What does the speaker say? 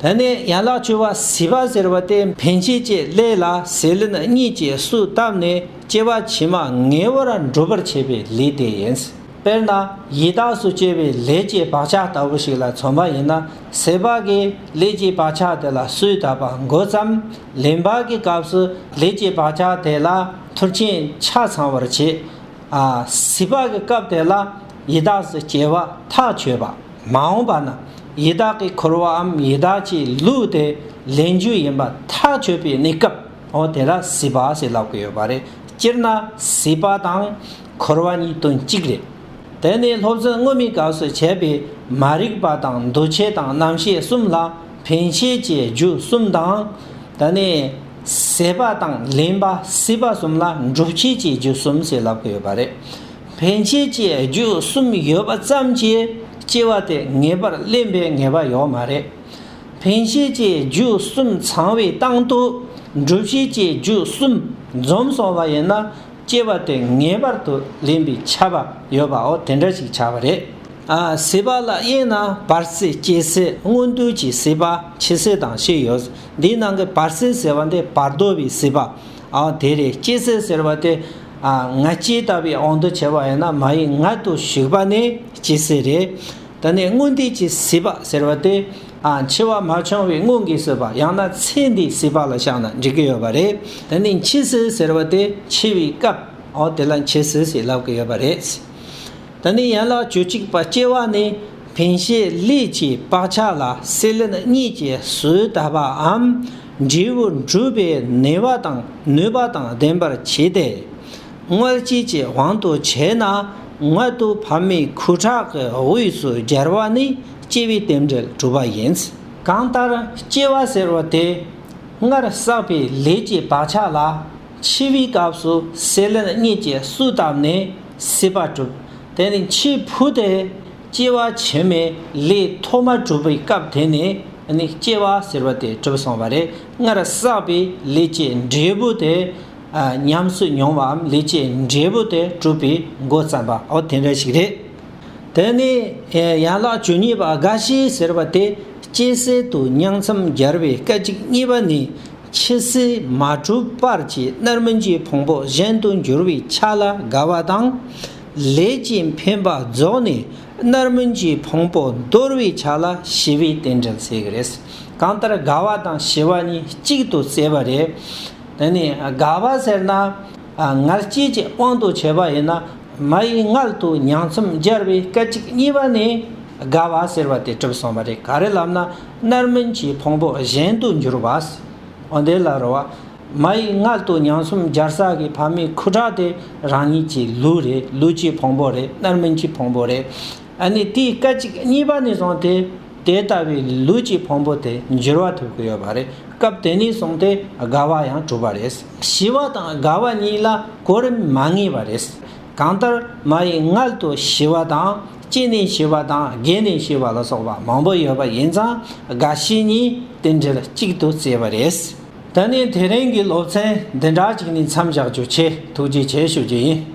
དེ་ནས་ཡན་ལག་བཅུ་བ་ཟིལ་པ་ཟེར་བ་སྟེ་འཕེན་བྱེད་བཅས་ཀླད་ལ་ཟིལ་གཉིས་ཀྱིས་སུ་བཏབ་ནས་སྐྱེ་བ་ཕྱི་མ་ངེས་བར་འགྲུབ་པར་བྱེད་པའི་ལས་དེ་ཡིན། དཔེར་ན་ཡི་དྭགས་སུ་སྐྱེ་བའི་ལས་ཀྱི་བག་ཆགས་ལྟ་བུ་ཞིག་ལ་མཚོན་པ་ཡིན་ན་ཟིལ་པ་གིས་ལས་ཀྱི་བག་ཆགས་དེ་ལ་སུས་བཏབ་པ་འགོ་བརྩམས་ལན་བག་གི་སྐབས་སུ་ལས་ཀྱི་བག་ཆགས་དེ་ལ་ཐུར་ཆེན་ཆ་ཚང་བར་བྱེད། བཟི་བ་གི་སྐབས་དེ་ལ་ཡི་དྭགས་སུ་སྐྱེ་བ་ཐག་ཆོད་པ་མ་འོངས་པ་ན་ཡི་དྭགས་ཀྱི་འཁོར་བའམ་ཡི་དྭགས་ཀྱི་ལུས་དེ་ལེན་རྒྱུ་ཡིན་པ་ཐག་ཆོད་པའི་གནས་སྐབས་འོ་དེ་ལ་བཟི་བ་ཞེས་ལབ་ཀྱི་ཡོད་པ་རེད་སྤྱིར་ན་བཟི་བ་དང་འཁོར་བ་གཉིས་དོན་གཅིག་རེད། དེ་ནི་སློབ་ཚན་སྔོན་མའི་སྐབས་སུ་བྱས་པའི་མ་རིག་པ་དང་འདུ་བྱེད་དང་རྣམ་ཤེས་གསུམ་ལ་འཕེན་བྱེད་ཀྱི་རྒྱུ་གསུམ་དང། དེ་ནི། ཟད་པ་དང་ལེན་པ་སྲིད་པ་གསུམ་ལ་འགྲུབ་བྱེད་ཀྱི་རྒྱུ་གསུམ་ཞེས་ལབ་ཀི་ཡོད་པ་རེད། འཕེན་བྱེད་ཀྱི་རྒྱུ་གསུམ་ཡོད་པ་ཙམ་གྱིས་སྐྱེ་བ་དེ་ངེས་པར་བརླན་པའི་ངེས་པ་ཡོད་མ་རེད། འཕེན་བྱེད་ཀྱི་རྒྱུ་གསུམ་ཚང་བའི་སྟངས་དུ་འགྲུབ་བྱེད་ཀྱི་རྒྱུ་གསུམ་འཛོམས་སོང་བ་ཡིན་ན་སྐྱེ་བ་དེ་ངེས་པར་དུ་བརླན་པའི་ཆ་བ་ཡོད་པའོ་དེ་འདྲ་ཞིག་ཆགས་པ་རེད། སྲིད་པ་ལ་དབྱེ་ན་བར་སྲིད་སྐྱེ་སྲིད་སྔོན་དུས་ཀྱི་སྲིད་པ་འཆི་སྲིད་དང་ཕྱིས་ཡོད་འདིའི་ནང་གི་བར་སྲིད་ཟེར་བ་འདི་བར་དོ་བའི་སྲིད་པ། དེ་རེད་སྐྱེ་སྲིད་ཟེར་བ་དེ། ང་སྐྱེས་ལྟ་བུའི་ཨང་དུ་བྱས་པ་ཡིན་ན་མ་ཡིག་ངག་ཏུ་ཞུགས་པ་ནི་སྐྱེ་སྲིད་རེད། ད་ནི་སྔོན་དུས་ཀྱི་སྲིད་པ་ཟེར་བ་དེ། འཆི་བ་མ་བྱུང་བའི་སྔོན་གྱི་སྲིད་པ་ཡང་ན་ཚེ་འདིའི་སྲིད་པ་ལ་བཞག་ན་འགྲིག་གི་ཡོད་པ་རེད། ད་ནི་འཆི་སྲིད་ཟེར་བ་དེ་འཆི་བའི་སྐབས། དེ་ལ་འཆི་སྲིད་ཞེས་ལབ་ཀྱི་ཡོད་པ་རེད། དེ་ནས་ཡན་ལག་བཅུ་གཅིག་པ་སྐྱེ་བ་ནི་ཕན་བྱའི་ལས་ཀྱི་བག་ཆགས་ལ་སྲེད་ལེན་གཉིས་ཀྱི་གཟུགས་ལྟ་བའམ་འབྲས་བུ་འགྲུབ་པའི་ནུས་པ་དང་ནུས་པ་དང་ལྡན་པར་བྱས་ཏེ། དངོས་སྤྱི་ཀྱི་དབང་དུ་བྱས་ན་མངལ་དུ་བབས་མའི་ཁུ་ཁྲག་གི་དབུས་སུ་སྦྱར་བ་ནི་སྐྱེ་བའི་རྟེན་འབྲེལ་གྲུབ་པ་ཡིན། གང་ལྟར་སྐྱེ་བ་ཟེར་བ་དེ་སྔར་བསགས་པའི་ལས་ཀྱི་བག་ཆགས་ལ། འཆི་བའི་སྐབས་སུ་སྲེད་ལེན་གཉིས་ཀྱིས་གསུས་བཏབ་ནས་སྲིད་པ་གྲུབ། དེ་ནས་འཆི་འཕོས་ཏེ། སྐྱེ་བ་ཕྱི་མའི་ལས་ཐོག་མ་གྲུབ་པའི་སྐབས་དེ་ནས་ནི་སྐྱེ་བ་ཟེར་བ་དེ་གྲུབ་སོང་བ་རེད་སྔར་བསགས་པའི་ལས་ཀྱི་འབྲས་བུ་དེ། ཉམས་སུ་མྱོང་བའམ་ལས་ཀྱི་འབྲས་བུ་དེ་གྲུབ་པའི་མགོ་བརྩམས་པ་འོ་དེ་འདྲ་ཞིག་རེད། དེ་ནས་ཡན་ལག་བཅུ་གཉིས་པ་རྒ་ཤི་ཟེར་བ་དེ་སྐྱེ་སྲིད་དུ་མྱང་མཚམས་སྦྱར་བའི་སྐད་ཅིག་གཉིས་པ་ནི། ཕྱི་སྲིད་མ་གྲུབ་པར་གྱི་རྣལ་མ་གྱི་ཕུང་པོ་གཞན་དུ་འགྱུར་བའི་ཆ་ལ་དགའ་བ་དང། ལས་ཀྱི་འཕེན་པ་རྫོགས་ནས་རྣལ་མ་གྱི་ཕུང་པོ་འདོར་བའི་ཆ་ལ་ཞི་བའི་རྟེན་འབྲེལ་བསྲེ་གི་རེད། གང་ལྟར་དགའ་བ་དང་ཞི་བ་གཉིས་གཅིག་ཏུ་བསྲེས་པ་རེད། དེ་ནས་དགའ་བ་ཟེར་ན། ངར་སྐྱེས་ཀྱི་དབང་དུ་བྱས་པ་ཡིན་ན། མ་ཡི་མངལ་དུ་མྱང་ཚོམ་སྦྱར་བའི་སྐད་ཅིག་གཉིས་པ་ནས་དགའ་བ་ཟེར་བ་དེ་གྲུབ་སོང་བ་རེད་ག་རེ་ལབ་ན། རྣར་སྨིན་གྱི་ཕུང་པོ་གཞན་དུ་འགྱུར་བ། འོ་དེ་ལ་རོ་བ། མ་ཡི་མངལ་དུ་མྱང་གསུམ་སྦྱར་ས་གི་ཕ་མའི་ཁུ་ཁྲག་དེ་རང་ཉིད་ཀྱི་ལུས་རེད་ལུས་ཀྱི་ཕུང་པོ་རེད་རྣར་སྨིན་གྱི་ཕུང་པོ་རེད། ཨ་ནི་དེའི་སྐད་ཅིག་གཉིས་པ་ནས་བཟུང་སྟེ་དེ་ལྟ་བུའི་ལུས་ཀྱི་ཕུང་པོ་དེ་འགྱུར་བ་ཐེབས་ཀྱི་ཡོད་པ་རེད་སྐབས་དེ་ནས་བཟུང་སྟེ་དགའ་བ་ཡང་གྲུབ་པ་རེད། ཞི་བ་དང་དགའ་བ་གཉིས་ལ་གོ་རིམ་མ་ངེས་པ་རེད། གང་ལྟར་མ་ཡི་མངལ་དུ་ཞི་བ་དང། སྐྱེས་ནས་ཤི་བ་དང་རྒས་ནས་ཤི་བ་ལ་སོགས་པ་མང་པོ་ཡོད་པ་ཡིན་ཙང་རྒ་ཤི་གཉིས་རྟེན་འབྲེལ་གཅིག་ཏུ་བརྩིས་པ་རེད། ད་ནི་དེ་རིང་གི་སློབ་ཚན་འདི་འདྲ་ཅིག་ནས་མཚམས་བཞག་རྒྱུ་ཆེ་ཐུགས་རྗེ་ཆེ་ཞུ་རྒྱུ་ཡིན།